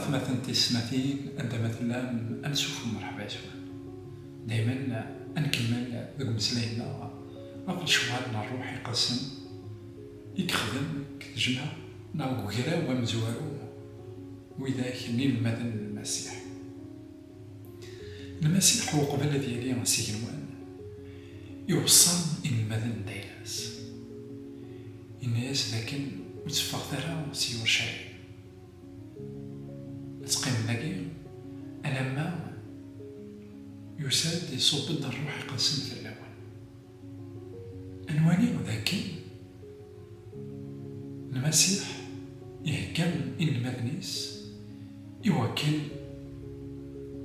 atmaten tiyesmatin anda ma tellam ad nessuffem merḥba yes-wen. Daymen ad nkemmel deg umeslay-nneɣ ɣef lecɣal n ṛṛuḥ iqedsen i yexdem deg tejmaɛ neɣ deg ugraw amezwaru n widak n yinelmaden n Lmasiḥ. Lmasiḥ uqbel ad yili s igenwan, iweṣṣa inelmaden n tayla-s. Yenna-yas dakken ur tteffɣet ara si Yurcalim. Ad teqqimem dagi alamma yusa-d, iṣubb-d Rruḥ Iqedsen fell-awen. Ad nwali dakken Lmasiḥ ihegga inelmaden-is i wakken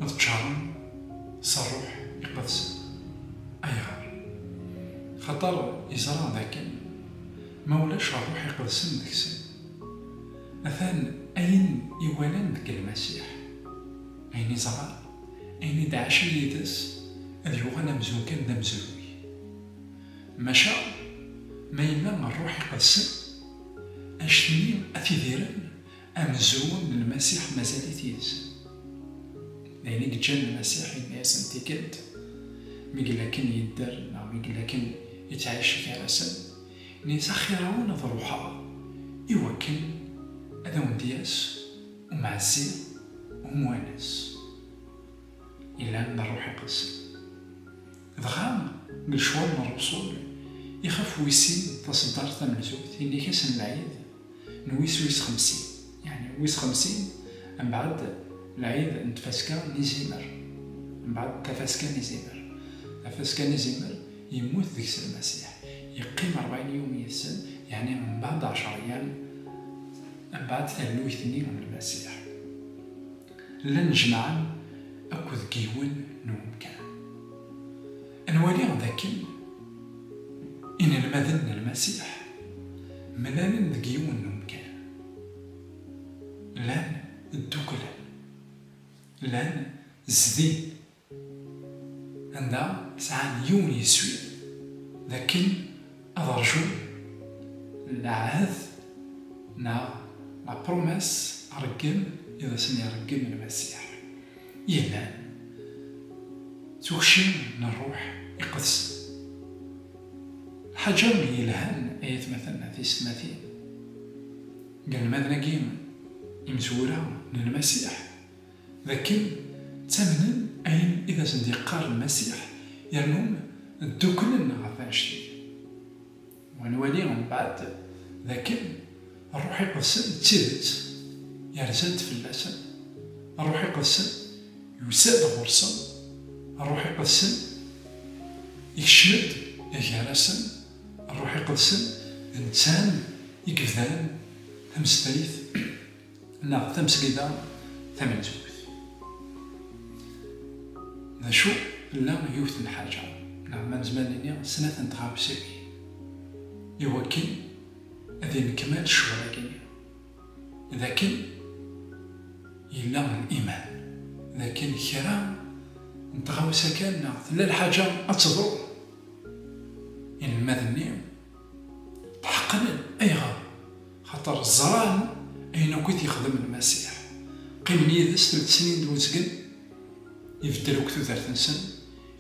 ad ččaren s Ṛṛuḥ Iqedsen. Ayɣer? Xaṭer iẓra dakken ma ulac Ṛṛuḥ Iqedsen deg-sen, atan ayen i walan deg Lmasiḥ, ayen i ẓran, Ayen i d-ɛacen yid-s ad yuɣal amzun kan d amezruy. Maca ma yella Rruḥ Iqedsen, anect-nni ad t-idiren, amezruy n Lmasiḥ mazal-it yid-sen. D ayen i yeǧǧan Lmasiḥ yenna-yasen tikkelt, Mi yella akken yedder neɣ mi yella akken yettɛic gar-asen, ini-as, Axir-awen ad ruḥeɣ, iwakken ad awen-d-yas. Umɛassi, Umwanes, ilan d rruḥ iqedsen. Dɣa deg lecɣal n Rebṣun, ixef wis-sin taṣeddart tamenzut, yenna-k-as n lɛid n wis wis xemsin, yeɛni wis xemsin mbeɛd lɛid n tfaska n izimer, mbeɛd tafaska n izimer. Tafaska n izimer, yemmut deg-s Lmasiḥ, yeqqim ṛebɛin yum yis-sen, yeɛni mbeɛd ɛecṛ ayyam. Mbeɛd tallukt-nni n Lmasiḥ, llan jemɛen akk deg yiwen n umkan. Nwali dakken inelmaden n Lmasiḥ mlalen deg yiwen n umkan, llan ddukklen, llan zdin Anda sɛan yiwen yeswi d akken ad rjun lɛahed neɣ la promesse areggem i d asen-ireggem Lmasiḥ yellan d tukci n Rruḥ Iqedsen. Lḥaǧa yelhan ay atmaten tisetmatin, deg wanmaden-agi imezwura n Lmasiḥ, d akken ttamnen ayen i d asen-d-yeqqar Lmasiḥ yernu ddukklen ɣef wanect-ik. Wa nwali mbeɛd d akken Ṛṛuḥ Iqedsen d tidet yerza-d fell-asen, Ṛṛuḥ Iqedsen yusa-d ɣur-sen, Ṛṛuḥ Iqedsen ikcem-d gar-asen, Ṛṛuḥ Iqedsen d netta i yebdan tameslayt. neɣ tamesgida tamenzut. D acu, tella yiwet n lḥaǧa, neɣ ma nezmer nini snat n tɣawsiwin, i wakken ad innekmal ccɣel-agi-nni, d akken yella liman d akken kra n tɣawsa kan neɣ tella lḥaǧa ad teḍru, inelmaden-nni Tḥeqqen ayɣer? Xaṭer ẓran ayen akk i t-yexdem Lmasiḥ. Qqimen yid-s tul tesnin d uzgen, ibeddel akk tudert-nsen,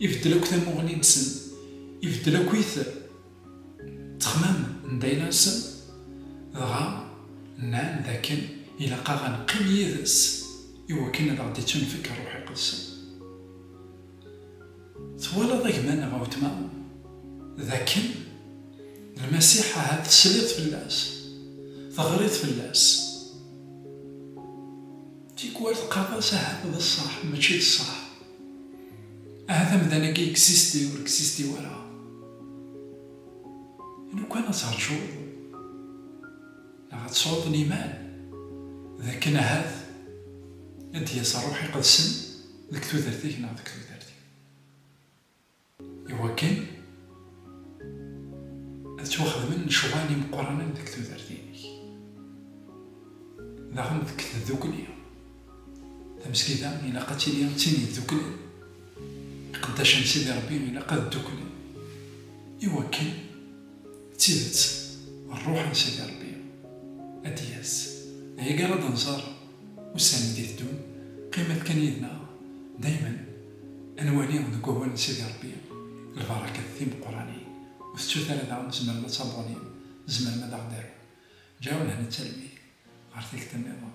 ibeddel akk tamuɣli-nsen, ibeddel akkit ttexmam n dayla-nsen, dɣa nnan dakken ilaq-aɣ ad neqqim yid-s i wakken ad aɣ-d-ittunefk Rruḥ Iqedsen. Twalaḍ a gma neɣ a wetma d akken Lmasiḥ ahat tesliḍ fell-as, teɣriḍ fell-as, tikwal teqqareḍ-as ahat d ṣṣeḥ mačči d ṣṣeḥ, ahat amdan-agi existe ur existe wara, lukan ad terǧuḍ neɣ ad tesɛuḍ liman d akken ahat ad d-yas Ṛṛuḥ Iqedsen. deg tudert-ik neɣ deg tudert-iw, iwakken ad ttwaxedmen lecɣal imeqqranen deg tudert-inek, daɣen deg tdukli. Tamesgida ilaq ad tili d tin yedduklen, iqeddacen n Sidi Ṛebbi ilaq ad dduklen, iwakken d tidet Ṛṛuḥ n Sidi Ṛebbi ad d-yas. D aya i ara d-nẓer. Ussan i d-iteddun, qqimet kan yid-neɣ, daymen ad nwali deg wawal n Sidi Ṛebbi lbarakat timeqqranin. Ur tettut ara daɣen tzemrem ad tabunim, tzemrem ad aɣ-d-tarum. Ǧeɛɛu lehna d talwit ɣer tikta nniḍen.